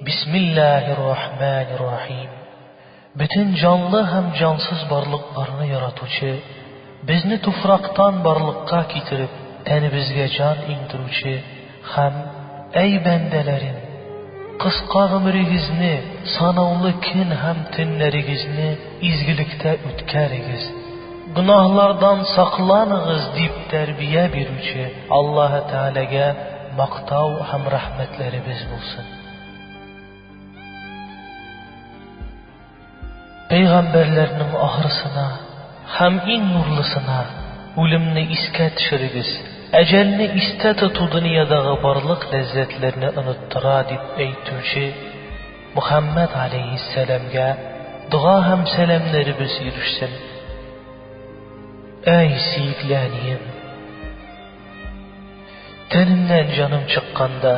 Бисмиллаһир рахманир рахим Бөтен җанлы һәм җансыз барлыкларны яратучы, безне туфрактан барлыкка китереп, тәнебезгә җан иңдерүче һәм, әй бәндәләрем! Кыска гомерегезне, санаулы көн һәм төннәрегезне изгелектә үткәрегез! Гөнаһлардан сакланыгыз, дип тәрбия бирүче Аллаһы Тәгаләгә мактау һәм рәхмәтләребез булсын. Пәйгамбәрләрнең ахырсына һәм иң нурлысына, үлемне искә төшерегез, әҗәлне истә тоту дөньядагы барлык ләззәтләрне оныттыра, дип әйтүче Мөхәммәд галәйһиссәламгә дога һәм сәламнәребез ирешсен. Әй, сөекле әнием! Тәнемнән җаным чыкканда,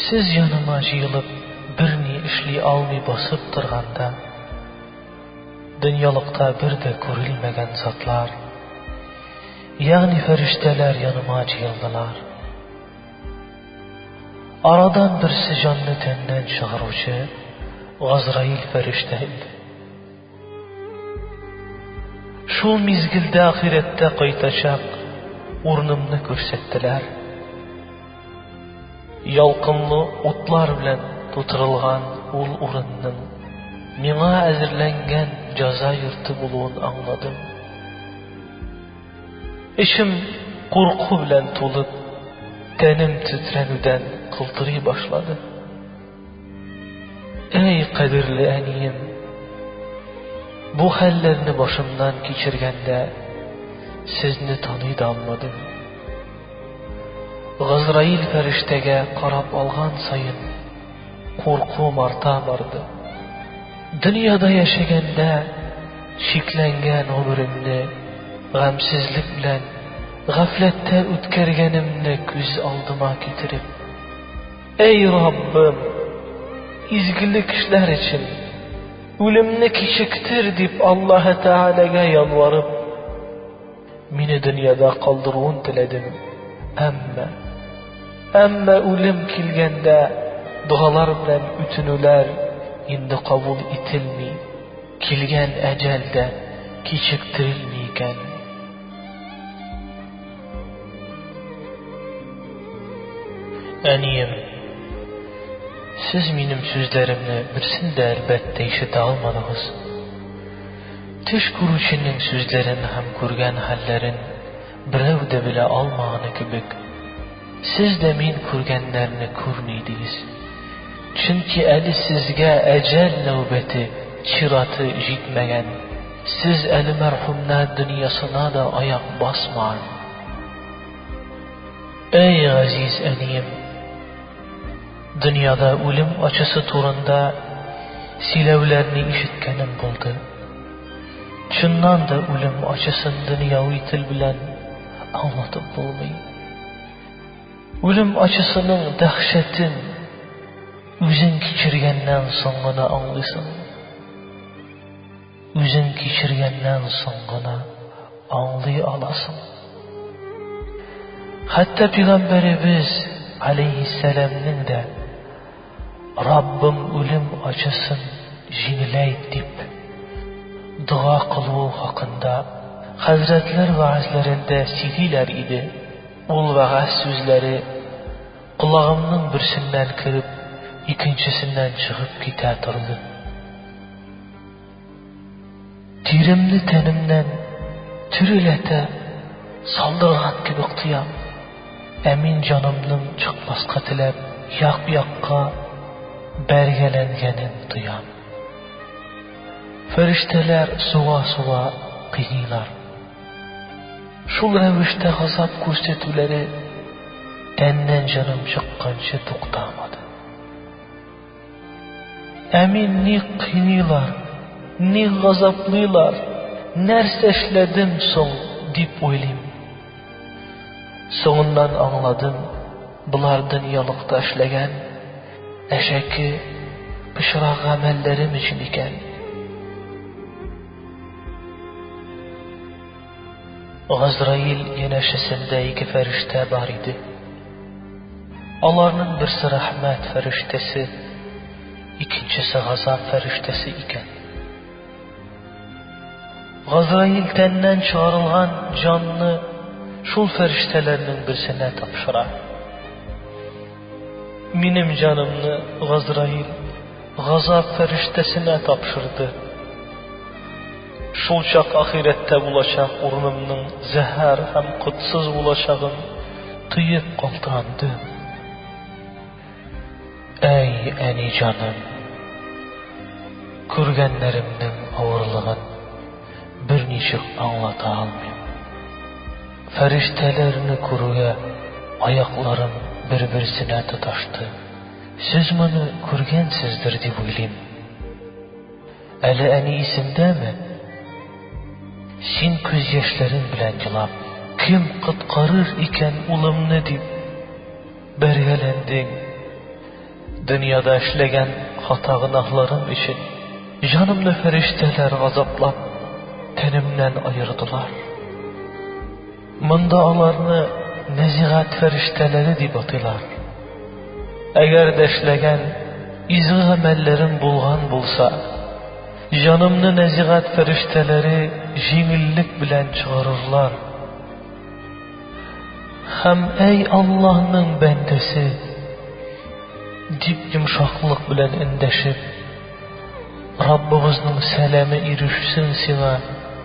сез яныма җыелып, берни эшли алмый басып торганда, дөньялыкта бер дә күрелмәгән затлар, ягъни фәрештәләр яныма җыелдылар. Арадан берсе җанны тәннән чыгаручы Газраил фәрештә иде. Шул мизгелдә ахирәттә кайтачак урынымны күрсәттеләр. Ялкынлы утлар белән тутырылган ул урынның миңа әзерләнгән җаза йорты булуын аңладым. Эчем курку белән тулып, тәнем тетрәнүдән кылтырый башлады. Әй, кадерле әнием! Бу хәлләрне башымнан кичергәндә, сезне таный да алмадым. Газраил фәрештәгә карап алган саен, Куркуым арта барды. Дөньяда яшәгәндә чикләнгән гомеремне гамьсезлек белән гафләттә үткәргәнемне күз алдыма китереп, Әй Раббым, изгелек эшләр өчен үлемне кичектер, дип Аллаһы Тәгаләгә ялварып, Мине дөньяда калдыруын теләдем, әмма. Әмма үлем килгәндә, догалар белән үтенүләр инде кабул ителми, килгән әҗәл дә кичектерелми икән. Әнием, сез минем сүзләремне берсен дә, әлбәттә, ишетә алмадыгыз. Төш күрүченең сүзләрен һәм күргән хәлләрен берәү дә белә алмаганы кебек, сез дә мин күргәннәрне күрми идегез. Чөнки әле сезгә әҗәл нәүбәте, чираты, җитмәгән. Сез әле мәрхүмнәр дөньясына да аяк басмаган. Әй, газиз әнием! Дөньяда үлем ачысы турында сөйләүләрне ишеткәнем булды. Чыннан да үлем ачысын дөньяви тел белән аңлатып булмый. Үлем ачысының дәһшәтен үзең кичергәннән соң гына аңлыйсың. Үзең кичергәннән соң гына аңлый аласың. Хәтта пигамбәребез алейһиссәламнең дә Раббым үлем ачысын җиңеләйт дип дога кылуы хакында хәзрәтләр вәгазьләрендә сөйлиләр иде. Ул вәгазь сүзләре колагымның берсеннән кереп, икенчесеннән чыгып китә торды. Тиремне тәнемнән төреләтә салдырган кебек тоям. Ә мин җанымның чыкмаска теләп як-якка бәргәләнгәнен тоям. Фәрештәләр суга-суга кыйныйлар. Шул рәвештә газап күрсәтүләре тәннән җаным чыкканчы туктамады. Ә мин ник кыйныйлар, ник газаплыйлар, нәрсә эшләдем соң, дип уйлыйм. Соңыннан аңладым, болар дөньялыкта эшләгән әшәке, пычрак гамәлләрем өчен икән. Газраил янәшәсендә ике фәрештә бар иде. Аларның берсе рәхмәт фәрештәсе, икенчесе газап фәрештәсе икән. Газраил тәннән чыгарылган җанны шул фәрештәләрнең берсенә тапшыра. Минем җанымны Газраил газап фәрештәсенә тапшырды. Шулчак ахирәттә булачак урынымның зәһәр һәм котсыз булачагын тоеп калтырандым. Әй, әни җаным! Күргәннәремнең авырлыгын берничек аңлата алмыйм. Фәрештәләрне күрүгә аякларым бер-берсенә тоташты. Сез моны күргәнсездер дип уйлыйм. Әле әни исендәме? Син күз яшьләрең белән елап, кем коткарыр икән улымны дип бәргәләндең. Дөньяда эшләгән хата гөнаһларым өчен җанымны фәрештәләр газаплап, тәнемнән аердылар. Монда аларны нәзигат фәрештәләре дип атыйлар. Әгәр дә эшләгән изге гамәлләрем булган булса, җанымны нәзигат фәрештәләре җиңеллек белән чыгарырлар. Һәм, әй Аллаһның бәндәсе! дип йомшаклык белән эндәшеп, Раббыбызның сәламе ирешсен сиңа,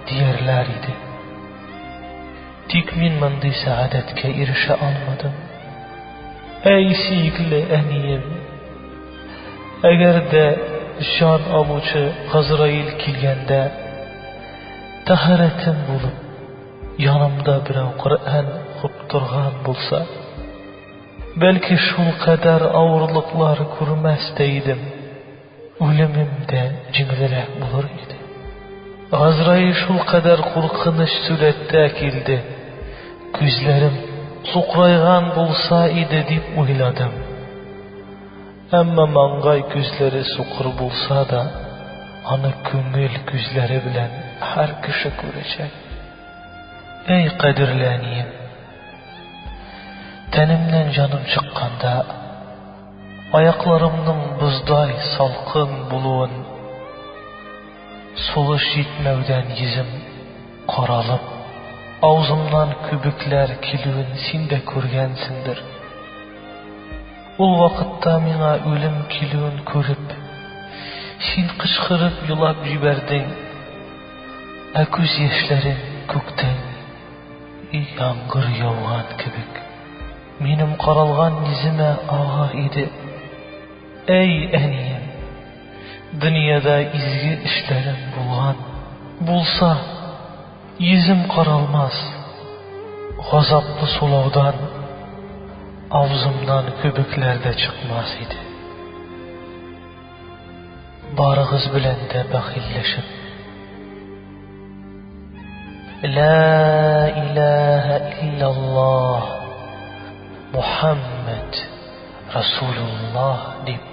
диярләр иде. Тик мин мондый сәгадәткә ирешә алмадым. Әй, сөекле әнием! Әгәр дә җан алучы Газраил килгәндә, тәһарәтем булып, янымда берәү Коръән укып торган булса, бәлки шул кадәр авырлыклар күрмәс тә идем. Үлемем дә җиңелрәк булыр иде. Газраил шулкадәр куркыныч сурәттә килде. Күзләрем сукырайган булса иде дип уйладым. Әмма маңгай күзләре сукыр булса да, аны күңел күзләре белән һәр кеше күрәчәк. Әй, кадерле әнием! Тәнемнән җаным чыкканда, Аякларымның боздай салкын булуын, сулыш җитмәүдән йөзем каралып, авызымнан күбекләр килүен син дә күргәнсеңдер. Ул вакытта миңа үлем килүен күреп, син кычкырып елап җибәрдең, ә күз яшьләрең күктән яңгыр яуган кебек. Минем каралган йөземә агар иде. Әй, әнием! Дөньяда изге эшләрең булган булса, йөзем каралмас. Газаплы сулаудан авызымнан күбекләр дә чыкмас иде. Барыгыз белән дә бәхилләшеп. Лә илаһа илляллаһ Мухаммад Расулуллаһ дип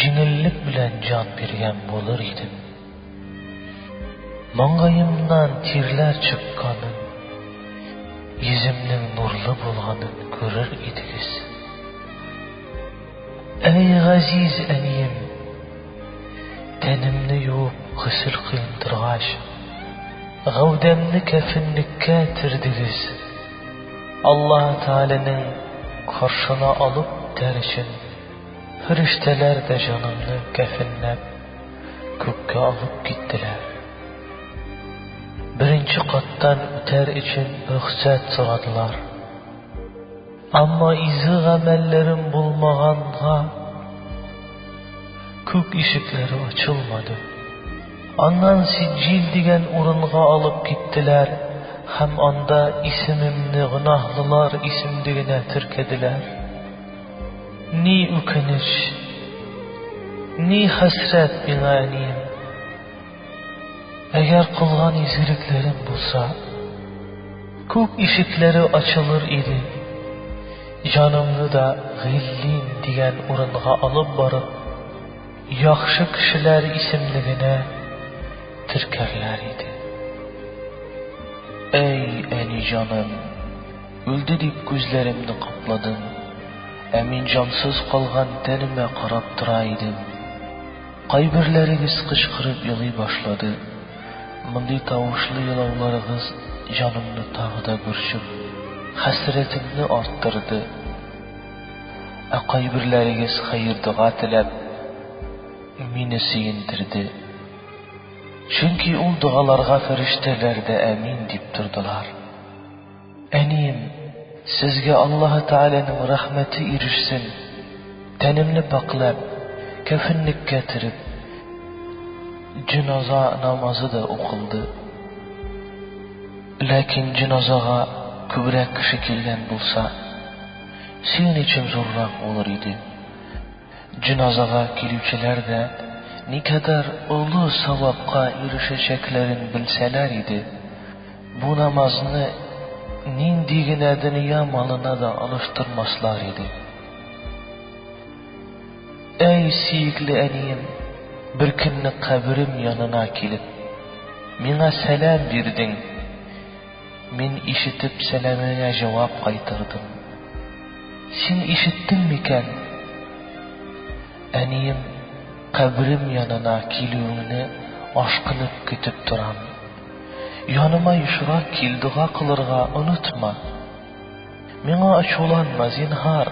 җиңеллек белән җан биргән булыр идем. Маңгаемнан тирләр чыкканын, йөземнең нурлы булганын күрер идегез. Әй газиз әнием! Тәнемне юып госел кыйм торгач, гәүдәмне кәфенлеккә төрдегез. Аллаһы Тәгаләнең каршына алып үтәр өчен, фирештәләр дә җанымны кәфенләп күккә алып киттеләр. Беренче каттан үтәр өчен рөхсәт сорадылар. Әмма изге гамәлләрем булмаганга, күк ишекләре ачылмады. Аннан Сиҗил дигән урынга алып киттеләр һәм анда исемемне гөнаһлылар исемлегенә теркәделәр. Ни үкенеч! Ни хәсрәт миңа, әнием! Әгәр кылган изгелекләрем булса, күк ишекләре ачылыр иде, җанымны да Гыйллин дигән урынга алып барып, яхшы кешеләр исемлегенә теркәрләр иде. Әй, әни җаным, үлде дип күзләремне капладым, ә мин җансыз калган тәнемә карап тора идем. Кайберләрегез кычкырып елый башлады. Мондый тавышлы елауларыгыз җанымны тагы да борчып, хәсрәтемне арттырды. Ә кайберләрегез хәер-дога теләп, мине сөендерде. Чөнки ул догаларга фәрештәләр дә әмин дип тордылар. Әнием, сезгә Аллаһы Тәгаләнең рәхмәте ирешсен! Тәнемне пакьләп, кәфенлеккә төреп, җеназа намазы да укылды. Ләкин җеназага күбрәк кеше килгән булса, сөенечем зуррак булыр иде. Җеназага килүчеләр дә никадәр олы савапка ирешәчәкләрен белсәләр иде, бу намазны нинди генә дөнья малына да алыштырмаслар иде. Әй, сөекле әнием, беркөнне каберем янына килеп, миңа сәлам бирдең. Мин ишетеп сәламеңә җавап кайтырдым. Син ишеттең микән? Әнием, каберем янына килүеңне ашкынып көтеп торам. Яныма ешрак кил, дога кылырга онытма. Миңа ачуланма, зинһар,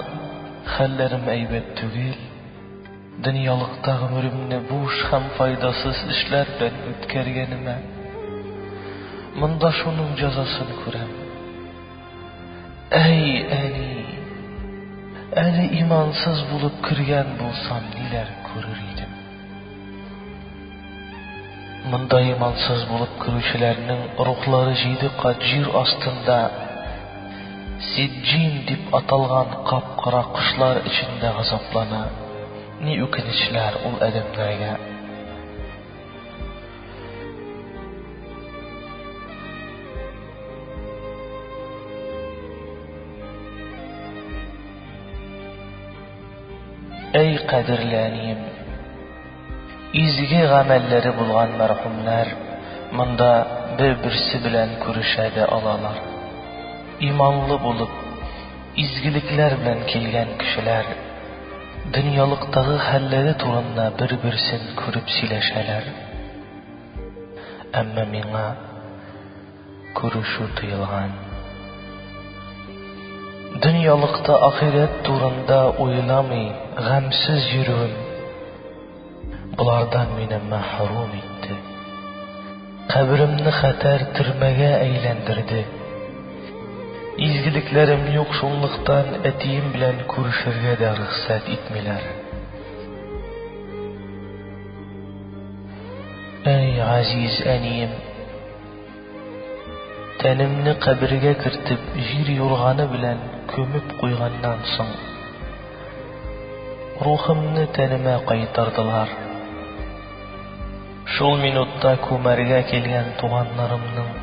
хәлләрем әйбәт түгел. Дөньялыкта гомеремне буш һәм файдасыз эшләр белән үткәргәнемә, монда шуның җәзасын күрәм. Әй, әни! Әле имансыз булып кергән булсам, ниләр күрер идем! Монда имансыз булып керүчеләрнең рухлары җиде кат җир астында, Сиҗҗин дип аталган кап-кара кошлар эчендә газаплана. Ни үкенечләр ул адәмнәргә! Әй кадерле әнием! Изге гамәлләре булган мәрхүмнәр монда бер-берсе белән күрешә дә алалар. Иманлы булып, изгелекләр белән килгән кешеләр дөньялыктагы хәлләре турында бер-берсен күреп сөйләшәләр. Әмма миңа. Күрешү тыелган. Дөньялыкта ахирәт турында уйламый гамьсез йөрүем болардан мине мәхрүм итте. Каберемне хәтәр төрмәгә әйләндерде. Изгелекләрем юк шунлыктан әтием белән күрешергә дә рөхсәт итмиләр. Әй, газиз әнием! Тәнемне кабергә кертеп, җир юрганы белән күмеп куйганнан соң, рухымны тәнемә кайтардылар. Шул минутта күмәргә килгән туганнарымның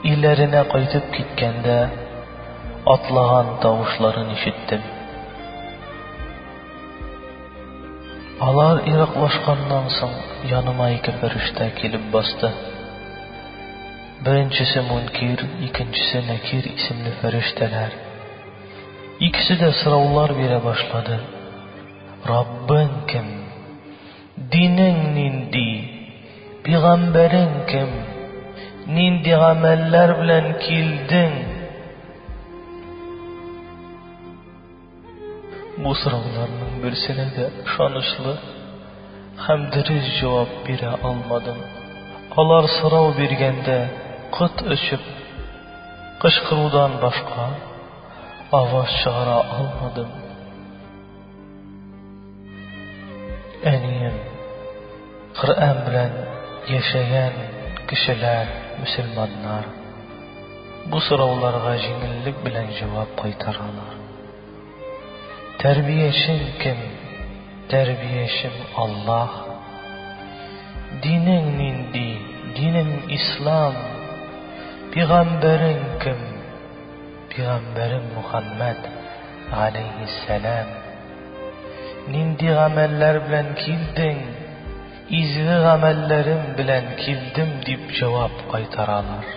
өйләренә кайтып киткәндә атлаган тавышларын ишеттем. Алар ераклашканнан соң, яныма ике фәрештә килеп басты. Беренчесе Мөнкир, икенчесе Нәкир исемле фәрештәләр. Икесе дә сораулар бирә башлады. Раббың кем? Динең нинди? Пигамбәрең кем? Нинди гамәлләр белән килдең? Бу сорауларның берсенә дә ышанычлы һәм дөрес җавап бирә алмадым. Алар сорау биргәндә кот очып кычкырудан башка аваз чыгара алмадым. Әнием, Коръән белән яшәгән кешеләр, мөселманнар, бу сорауларга җиңеллек белән җавап кайтаралар. Тәрбиячең кем? Тәрбиячем Аллаһ. Динең нинди? Динем ислам. Пигамбәрең кем? Пигамбәрем Мухаммәд, галәйһиссәлам, нинди гамәлләр белән килдең? Изге гамәлләрем белән килдем, дип җавап кайтаралар.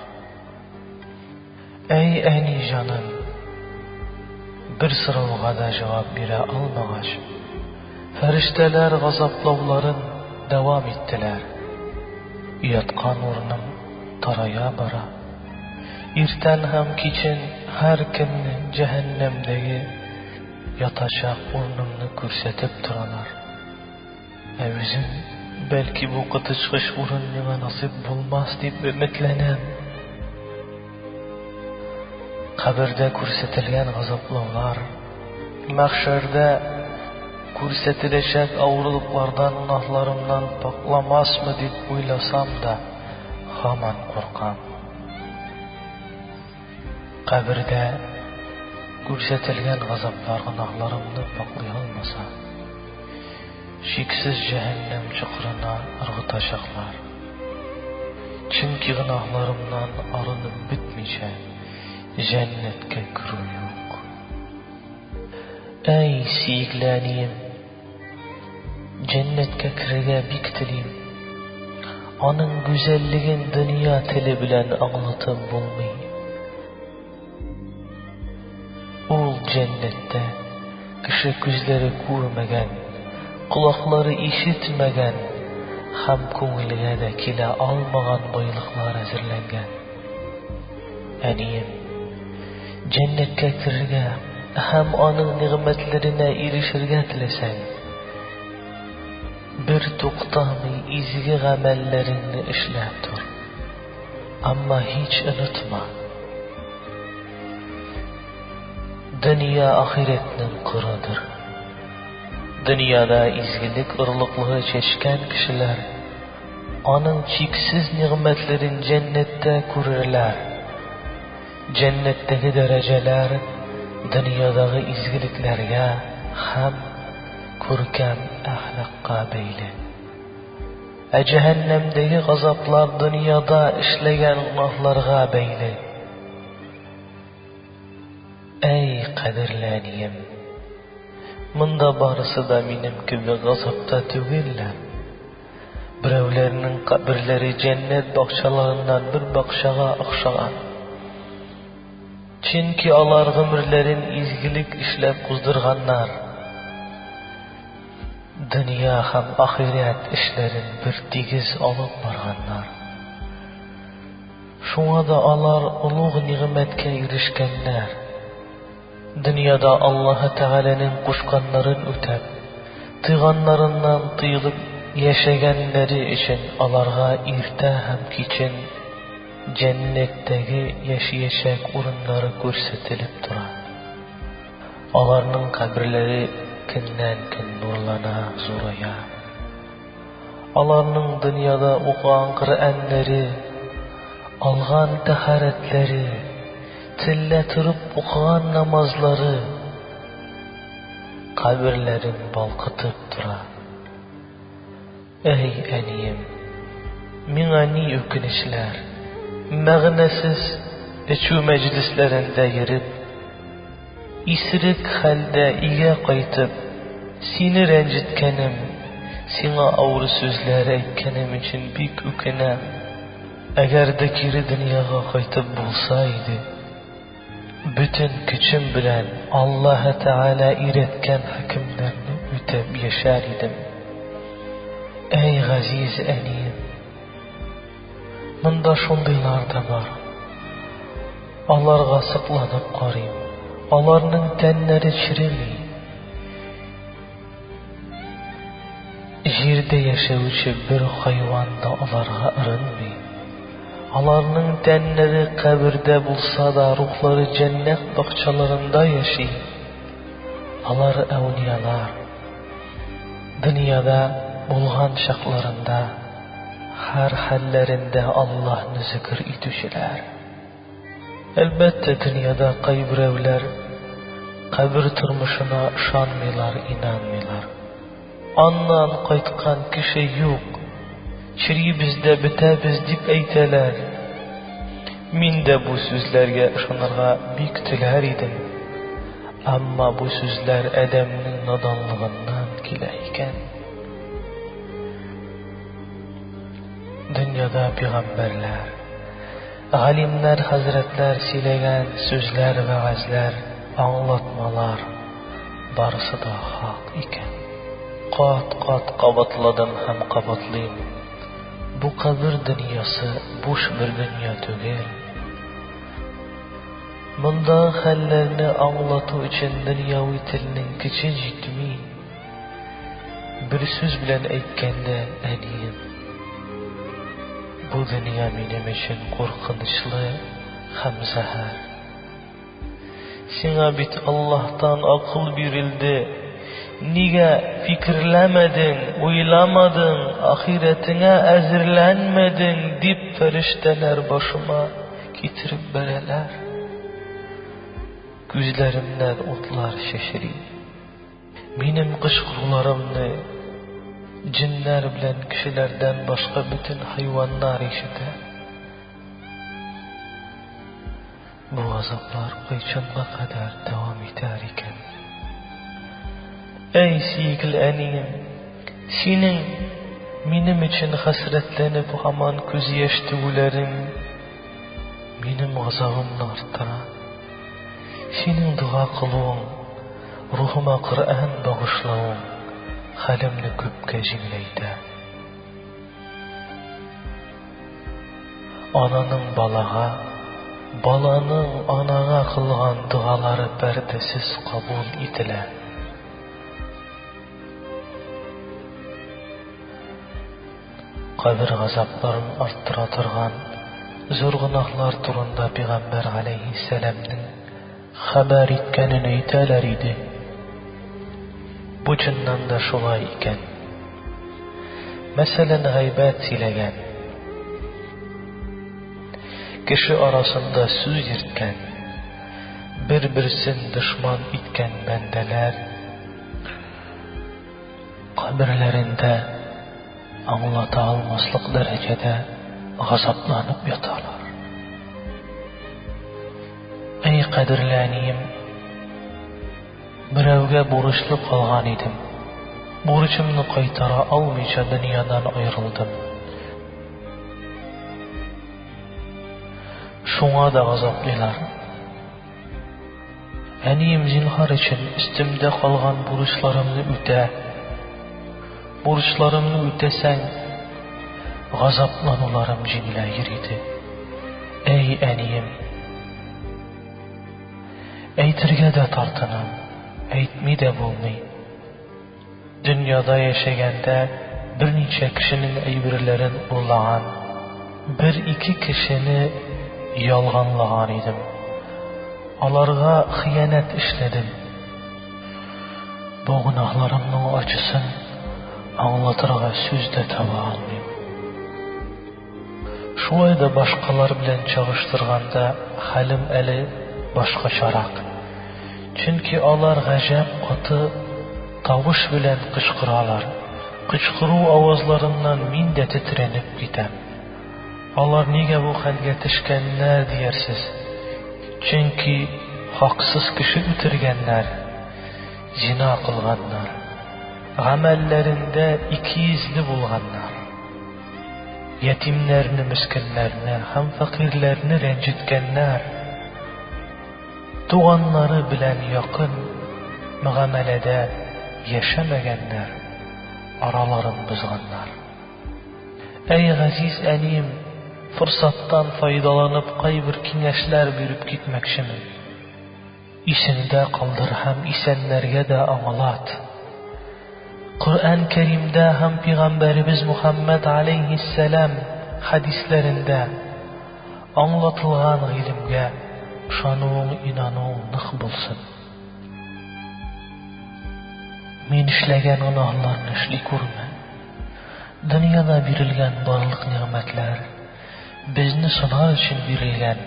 Әй, әни җаным! Бер сорауга да җавап бирә алмагач, Фәрештәләр газаплауларын дәвам иттеләр. Яткан урыным тарая бара. Иртән һәм кичен һәркемне җәһәннәмдәге ятачак урынымны күрсәтеп торалар. Ә үзем, бәлки, бу коточкыч урын миңа насыйп булмас дип өметләнәм. Кабердә күрсәтелгән газаплаулар, мәхшәрдә күрсәтеләчәк авырлыклардан гөнаһларымнан пакламасмы дип уйласам да, һаман куркам. Кабердә күрсәтелгән газаплар гөнаһларымны паклый алмаса, Чиксез җәһәннәм чокырына ыргытачаклар. Чөнки гөнаһларымнан арынып бетмичә, җәннәткә керү юк. Әй, сөекле әнием! Җәннәткә керергә бик телим. Аның гүзәллеген дөнья теле белән аңлатып булмый. Ул җәннәттә кеше күзләре күрмәгән, колаклары ишетмәгән һәм күңелгә дә килә алмаган байлыклар әзерләнгән. Әнием, җәннәткә керергә һәм аның нигъмәтләренә ирешергә теләсәң, бертуктамый изге гамәлләреңне эшләп тор. Әмма һич онытма, дөнья ахирәтнең кырыдыр. Дөньяда изгелек орлыклыгы чәчкән кешеләр аның чиксез нигъмәтләрен җәннәттә күрерләр. Җәннәттәге дәрәҗәләр дөньядагы изгелекләргә һәм күркәм әхлакка бәйле. Ә җәһәннәмдәге газаплар дөньяда эшләгән гөнаһларга бәйле. Әй, кадерле әнием! Монда барысы да минем кебек газапта түгелләр. Берәүләрнең каберләре җәннәт бакчаларыннан бер бакчага охшаган. Чөнки алар гомерләрен изгелек эшләп уздырганнар. Дөнья һәм ахирәт эшләрен бертигез алып барганнар. Шуңа да алар олуг нигъмәткә ирешкәннәр. Дөньяда Аллаһы Тәгаләнең кушканнарын үтәп, тыйганнарыннан тыелып яшәгәннәре өчен аларга иртә һәм кичен Җәннәттәге яшиячәк урыннары күрсәтелеп тора. Аларның каберләре көннән-көн нурлана, зурая. Аларның дөньяда укыган Коръәннәре, алган тәһарәтләре, төнлә торып укыган намазлары каберләрен балкытып тора. Әй, әнием, миңа ни үкенечләр! Мәгънәсез эчү мәҗлесләрендә йөреп, исерек хәлдә өйгә кайтып, сине рәнҗеткәнем, сиңа авыр сүзләр әйткәнем өчен бик үкенәм. Әгәр дә кире дөньяга кайтып булса иде! Бөтен көчем белән Аллаһы Тәгалә өйрәткән хөкемнәрне үтәп яшәр идем. Әй газиз әнием! Монда шундыйлар да бар. Аларга сокланып карыйм. Аларның тәннәре череми. Җирдә яшәүче бер хайван да аларга ырынмый. Аларның тәннәре кабердә булса да, рухлары җәннәт бакчаларында яши. Алар әүлиялар. Дөньяда булган чакларында, һәр хәлләрендә Аллаһны зикер итүчеләр. Әлбәттә, дөньяда кайберәүләр кабер тормышына ышанмыйлар, инанмыйлар. Аннан кайткан кеше юк. Черибез дә бетәбез, дип әйтәләр. Мин дә бу сүзләргә ышанырга бик теләр идем. Әмма бу сүзләр адәмнең наданлыгыннан килә икән. Дөньяда пигамбәрләр. Галимнәр хәзрәтләр сөйләгән сүзләр вәгазьләр аңлатмалар барысы да хак икән. Кат кат кабатладым һәм кабатлыйм. Бу кабер дөньясы буш бер дөнья түгел. Мондагы хәлләрне аңлату өчен дөньяви телнең көче җитми. Бер сүз белән әйткәндә, әнием, бу дөнья минем өчен куркынычлы һәм зәһәр. Сиңа бит Аллаһтан акыл бирелде, нигә фикерләмәдең, уйламадың, ахирәтеңә әзерләнмәдең, дип фәрештәләр башыма китереп бәрәләр. Күзләремнән утлар чәчри. Минем кычкыруларымны җеннәр белән кешеләрдән башка бөтен хайваннар ишетә. Бу азаплар кайчанга кадәр дәвам итәр икән? Әй, сөекле әнием, синең минем өчен хәсрәтләнеп һаман күз яшь түгүләрең минем газабымны арттыра. Синең дога кылуың Рухыма Коръән багышлавың хәлемне күпкә җиңеләйтә. Ананың балага, баланың анага кылган догалары пәрдәсез кабул ителә. Кабер газапларын арттыра торган зур гөнаһлар турында пигамбәр галәйһиссәламнең Хәбәр иткәнен әйтәләр иде. Бу чыннан да шулай икән. Мәсәлән, гайбәт сөйләгән, кеше арасында сүз йөрткән, бер-берсен дошман иткән бәндәләр каберләрендә аңлата алмаслык дәрәҗәдә газапланып яталар. Әй кадерле әнием! Берәүгә бурычлы калган идем. Бурычымны кайтара алмыйча дөньядан аерылдым. Шуңа да газаплыйлар. Әнием, зинһар өчен, өстемдә калган бурычларымны үтә. Бурычларымны үтәсәң, газаплануларым җиңелә йөр иде. Әй, әнием! Әйтергә дә тартынам, әйтми дә булмый. Дөньяда яшәгәндә берничә кешенең әйберләрен урлаган, бер-ике кешене ялганлаган идем. Аларга хыянәт эшләдем. Бу гөнаһларымның ачысын аңлатырга сүз дә таба алмыйм. Шулай да башкалар белән чагыштырганда хәлем әле башкачарак. Чөнки алар гаҗәп каты тавыш белән кычкыралар. Кычкыру авазларыннан мин дә тетрәнеп китәм. Алар нигә бу хәлгә төшкәннәр диярсез? Чөнки хаксыз кеше үтергәннәр, зина кылганнар, гамәлләрендә икейөзле булганнар, ятимнәрне, мескеннәрне һәм фәкыйрьләрне рәнҗеткәннәр, туганнары белән якын мөгамәләдә яшәмәгәннәр, араларын бозганнар. Әй газиз әнием, форсаттан файдаланып кайбер киңәшләр биреп китмәкчемен. Исеңдә калдыр һәм исәннәргә дә аңлат. Коръән Кәримдә һәм пигамбәребез Мухаммәд аләйһиссәлам хәдисләрендә аңлатылган гыйлемгә ышануың инануың нык булсын. Мин эшләгән гөнаһларны эшли күрмә. Дөньяда бирелгән барлык нигъмәтләр безне сынар өчен бирелгән,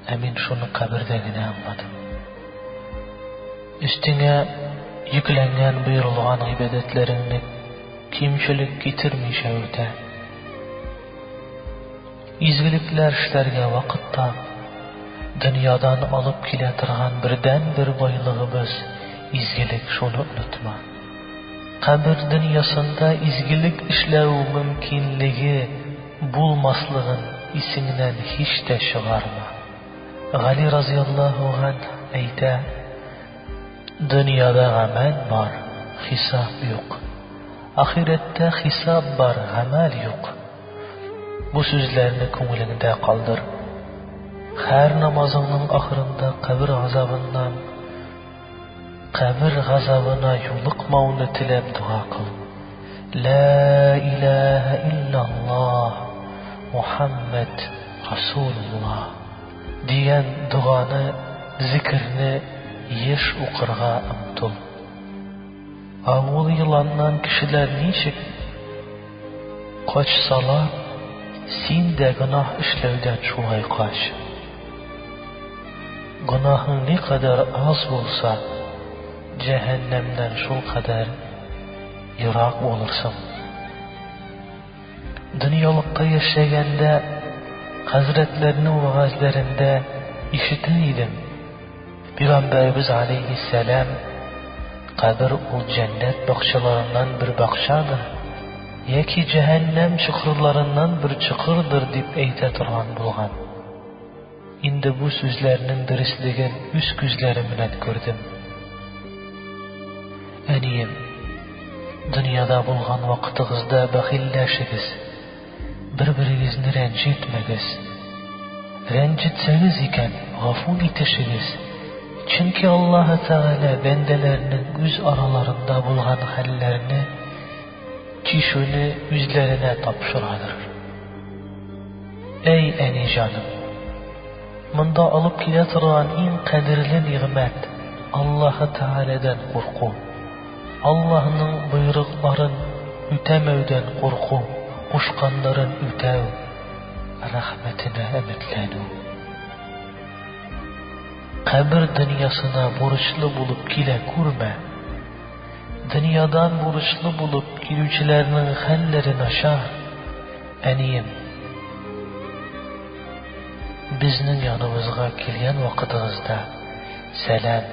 ә мин шуны кабердә генә аңладым. Өстеңә йөкләнгән боерылган гыйбадәтләреңне кимчелек китермичә үтә. Изгелекләр эшләргә вакыт тап. Дөньядан алып килә торган бердәнбер байлыгыбыз, изгелек, шуны онытма. Кабер дөньясында изгелек эшләү мөмкинлеге булмаслыгын исеңнән һич тә чыгарма. Гали разыяллаһу ганһ әйтә, Дөньяда гамәл бар, хисап юк. Ахирәттә хисап бар, гамәл юк. Бу сүзләрне күңелеңдә калдыр. Һәр намазыңның ахырында кабер газабыннан, Кабер газабына юлыкмауны теләп дога кыл. Лә иләһә илляллаһ, Мухәммәд Расулуллаһ, дигән доганы, зикерне еш укырга омтыл. Агул еланнан кешеләр ничек качсалар, син дә гөнаһ эшләүдән шулай кач. Гөнаһың никадәр аз булса, җәһәннәмнән шулкадәр ерак булырсың. Дөньялыкта яшәгәндә хәзрәтләрнең вәгазьләрендә ишетә идем. Пигамбәребез галәйһиссәлам, Кабер ул җәннәт бакчаларыннан бер бакчадыр, яки җәһәннәм чокырларыннан бер чокырдыр дип әйтә торган булган. Инде бу сүзләрнең дөреслеген үз күзләрем белән күрдем. Әнием, дөньяда булган вакытыгызда бәхилләшегез. Бер-берегезне рәнҗетмәгез. Рәнҗетсәгез икән, гафу итешегез, чөнки Аллаһы Тәгалә бәндәләренең үз араларында булган хәлләрне чишүне үзләренә тапшырадыр. Әй, әни җаным! Монда алып килә торган иң кадерле нигъмәт, Аллаһы Тәгаләдән курку. Аллаһның боерыкларын үтәмәүдән курку, кушканнарын үтәү, рәхмәтенә өметләнү. Кабер дөньясына бурычлы булып килә күрмә. Дөньядан бурычлы булып килүчеләрнең хәлләре начар, әнием. Безнең яныбызга килгән вакытыгызда сәлам.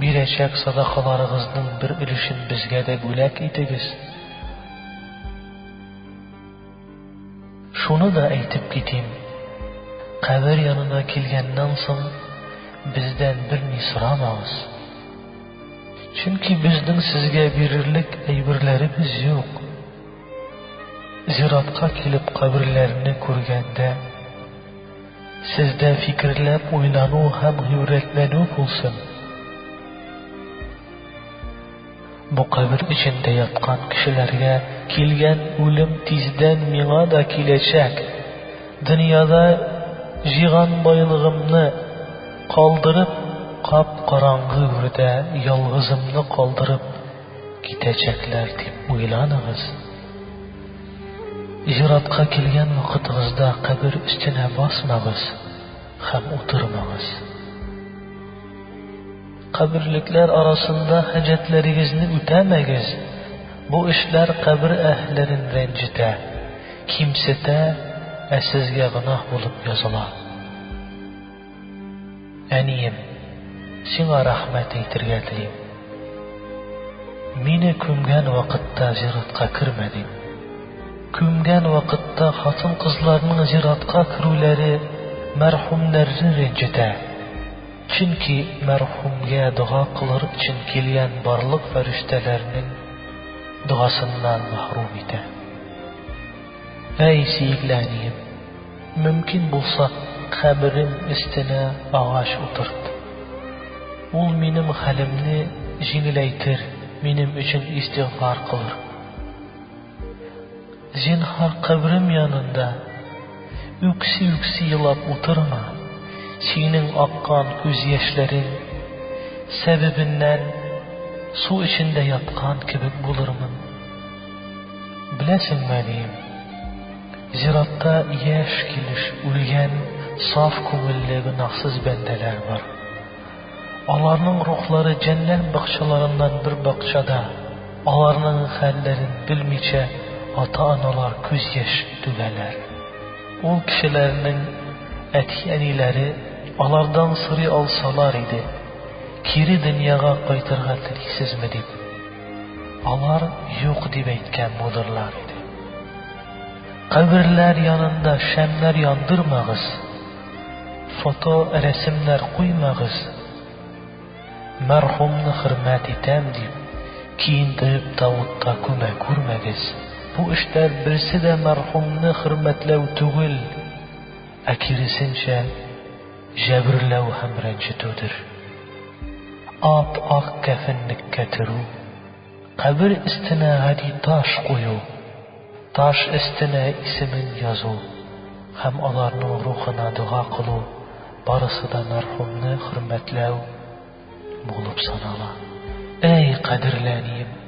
Бирәчәк садакаларыгызның бер өлешен безгә дә бүләк итегез. Шуны да әйтеп китим, кабер янына килгәннән соң, бездән берни сорамагыз. Чөнки безнең сезгә бирерлек әйберләребез юк. Зиратка килеп каберләрне күргәндә, Сездә фикерләп уйлану һәм гыйбрәтләнү булсын! Бу кабер эчендә яткан кешеләргә килгән үлем тиздән миңа да киләчәк. Дөньяда җыйган байлыгымны калдырып, кап-караңгы үрдә ялгызымны калдырып китәчәкләр дип уйламагыз. Зиратка килгән вакытыгызда кабер өстенә басмагыз һәм утырмагыз. Каберлекләр арасында хаҗәтләрегезне үтәмәгез, бу эшләр кабер әһлерен рәнҗетә, кимсетә, ә сезгә гөнаһ булып языла. Әнием, сиңа рәхмәт әйтергә телим. Мине күмгән вакытта зиратка кермәдең. Күмгән вакытта хатын-кызларның зиратка керүләре мәрхүмнәрне рәнҗетә. Чөнки мәрхүмгә дога кылыр өчен килгән барлык фәрештәләрнең догасыннан мәхрүм итә. Әй, сөекле әнием! Мөмкин булса, каберем өстенә агач утырт. Ул минем хәлемне җиңеләйтер, минем өчен истигъфар кылыр. Зинһар, каберем янында үкси-үкси елап утырма. Синең аккан күз яшьләрең сәбәбеннән су эчендә яткан кебек булырмын. Беләсеңме, әнием? Зиратта яшь килеш үлгән саф күңелле гөнаһсыз бәндәләр бар. Аларның рухлары җәннән бакчаларыннан бер бакчада, аларның хәлләрен белмичә ата-аналар күз яшь түгәләр. Ул кешеләрнең әти-әниләре алардан сорый алсалар иде, Кире дөньяга кайтырга телисезме? дип. Алар юк дип әйткән будырлар иде. Каберләр янында шәмнәр яндырмагыз, фото, рәсемнәр куймагыз. Мәрхумны хөрмәт итәм дип, киендереп тавытта күмә күрмәгез. Бу эштәр берсе дә мәрхумны хөрмәтләү түгел, ә киресенчә, җәберләү һәм рәнҗетүдер. Ап-ак кәфенлеккә төрү, кабер өстенә гади таш кую, таш өстенә исемен язу һәм аларның рухына дога кылу барысы да мәрхүмне хөрмәтләү, Булып санала. Әй, кадерле әнием!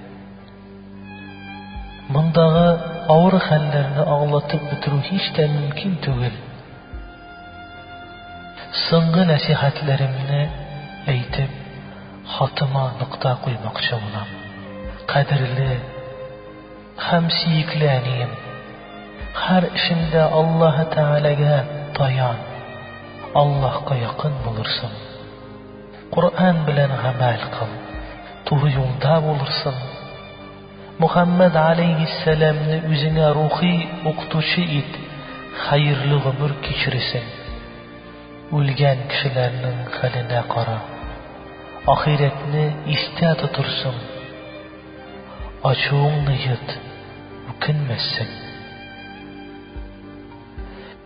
Мондагы авыр хәлләрне аңлатып бетерү һич тә мөмкин түгел. Соңгы нәсихәтләремне әйтеп, хатыма нокта куймакчы булам. Кадерле һәм сөекле әнием, һәр эшендә Аллаһы Тәгаләгә таян, Аллаһка якын булырсың. Коръән белән гамәл кыл, туры юлда булырсың. Мөхәммәд аләйһиссәламне үзеңә рухи укытучы ит, хәерле гомер кичересең. Үлгән кешеләрнең хәленә кара, ахирәтне истә тотырсың. Ачуыңны йот, үкенмәссең.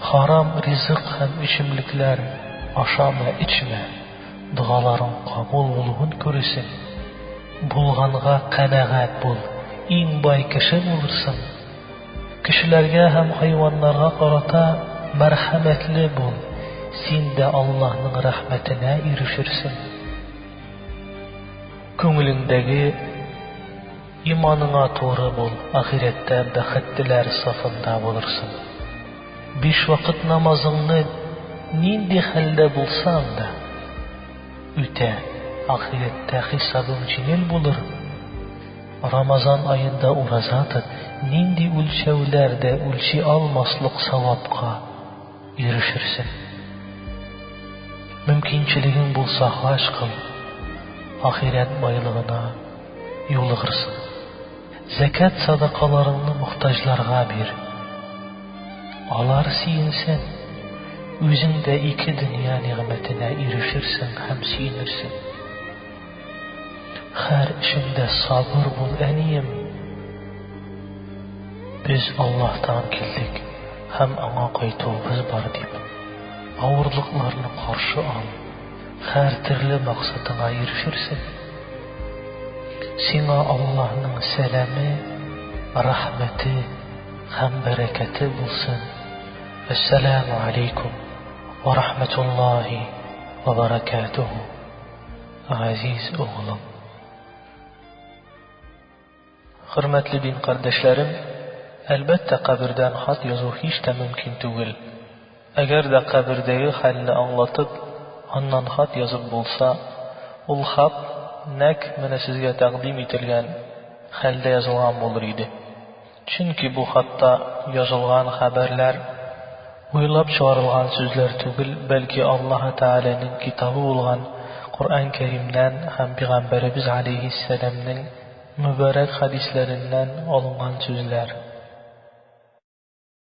Харам ризык һәм эчемлекләр ашама, эчмә, догаларың кабул булуын күресең. Булганга канәгать бул, иң бай кеше булырсың. Кешеләргә һәм хайваннарга карата мәрхәмәтле бул, син дә Аллаһның рәхмәтенә ирешерсең. Күңелеңдәге. Иманыңа туры бул, ахирәттә бәхеттеләр сафында булырсың. Биш вакыт намазыңны нинди хәлдә булсаң да үтә, ахирәттә хисабың җиңел булыр. Рамазан аенда ураза тот, нинди үлчәүләр дә үлчи алмаслык савапка. ирешерсең. Мөмкинчелегең булса хаҗ кыл, ахирәт байлыгына юлыгырсың. Зәкәт садакаларыңны мохтаҗларга бир. Алар сөенсен, үзең дә ике дөнья нигъмәтенә ирешерсең һәм сөенерсең. Хәр эшеңдә сабыр бул, әнием! Без Аллаһтан килдек һәм Аңа кайтуыбыз бар дип, авырлыкларны каршы ал, хәр төрле максатыңа ирешерсең. Сиңа Аллаһның сәламе, рәхмәте һәм бәрәкәте булсын. Әссәламү алейкум ва рахматуллаһи ва баракатуху. Газиз углым. Хөрмәтле дин кардәшләрем, әлбәттә, кабердән хат язу һич тә мөмкин түгел. Әгәр дә кабердәге хәлне аңлатып, аннан хат язып булса, ул хат нәкъ менә сезгә тәкъдим ителгән хәлдә язылган булыр иде. Чөнки бу хатта язылган хәбәрләр, уйлап чыгарылган сүзләр түгел, бәлки Аллаһы Тәгаләнең китабы булган Коръән Кәримнән һәм пигамбәребез галәйһиссәламнең мөбарәк хәдисләреннән алынган сүзләр.